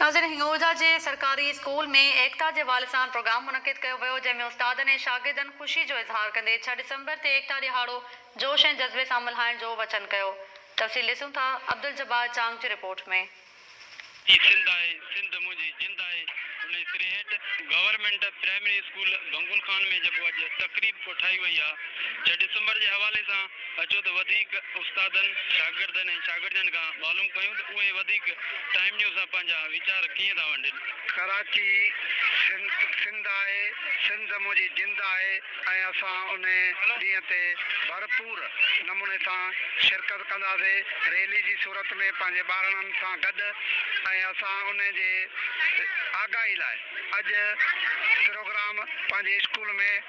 ناظرين هنڱورجا جي سرڪاري اسڪول ۾ ايڪتا جي والي سان پروگرام منعقد ڪيو ويو جنهن ۾ استادن ۽ شاگردن خوشي جو اظهار ڪندي ڇهه ڊسمبر تي ايڪتا ڏهاڙو جوش ۽ جذبي سان ملهائڻ جو وچن ڪيو تفصيل ڏسون ٿا عبدالجبار چانگ جي رپورٽ ۾. هي سنڌ آهي سنڌ منهنجي جند آهي انهي سري هيٺ government primary school Bhangol Khan ۾ جيڪو اڄ تقريب ڪوٺائي وئي آهي ڇهه ڊسمبر جي حوالي سان اچو ته وڌيڪ استادن، شاگردن ۽ شاگردياڻين کان معلوم ڪيون ته اهي وڌيڪ ٽائيم نيوز سان پنهنجا ويچار ڪيئن ٿا ونڊين. ڪراچي، سنڌ سنڌ آهي، سنڌ منهنجي جند آهي ۽ اسان ان ڏينهن تي ڀرپور نموني سان شرڪت ڪنداسين، ريلي جي صورت ۾ پنهنجي ٻارڙن سان گڏ ۽ اسان ان جي آگاهي لاء اڄ پروگرام پنهنجي اسڪول ۾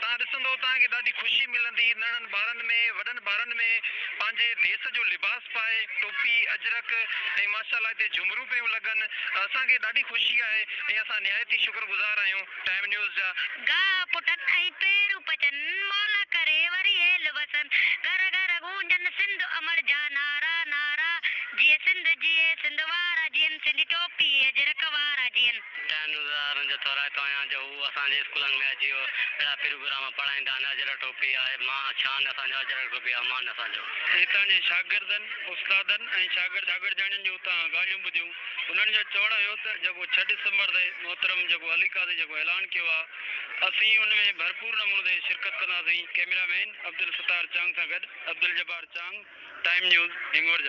توهان ڏسندؤ توهان کي ڏاڍي خوشي ملندي، ننھن ٻارن ۾ وڏن ٻارن ۾ پنھنجي ديس جو لباس پائي، ٽوپي، اجرڪ ۽ ماشاء الله هتي جهمرون پيون لڳن، اسان کي ڏاڍي خوشي آهي ۽ اسان نهايت ئي شڪر گذار آهيون ٽائيم نيوز جا. گاهه پٽن ۽ پيرون پچن، مولا ڪري وري هيل وسن، گهر گهر گونجن سنڌ امڙ جا نعرا نعرا، جيئي سنڌ جيئي سنڌ وارا جيئن سنڌي ٽوپي اجرڪ وارا جيئن. ٽائيم نيوز وارا هن جو ٿورائتو آهيان جو هو اسان جي اسڪولن ۾ اچي اهڙا پروگرام پڙهائيندا آهن اجرڪ ٽوپي آهي مان شان اسان جو اجرڪ ٽوپي آهي مان اسان جو. هتان جي شاگردن، استادن ۽ شاگرد شاگردياڻين جون اتان ڳالهيون ٻڌيون. انهن جو چوڻ هيو ته جيڪو ڇهه ڊسمبر تي محترم جيڪو علي قاضي جيڪو اعلان ڪيو آهي اسين ان ۾ ڀرپور نموني تي شرڪت ڪنداسين ڪئميرا مين عبدالستار چانگ سان گڏ عبدالجبار چانگ ٽائيم نيوز هنگور جا.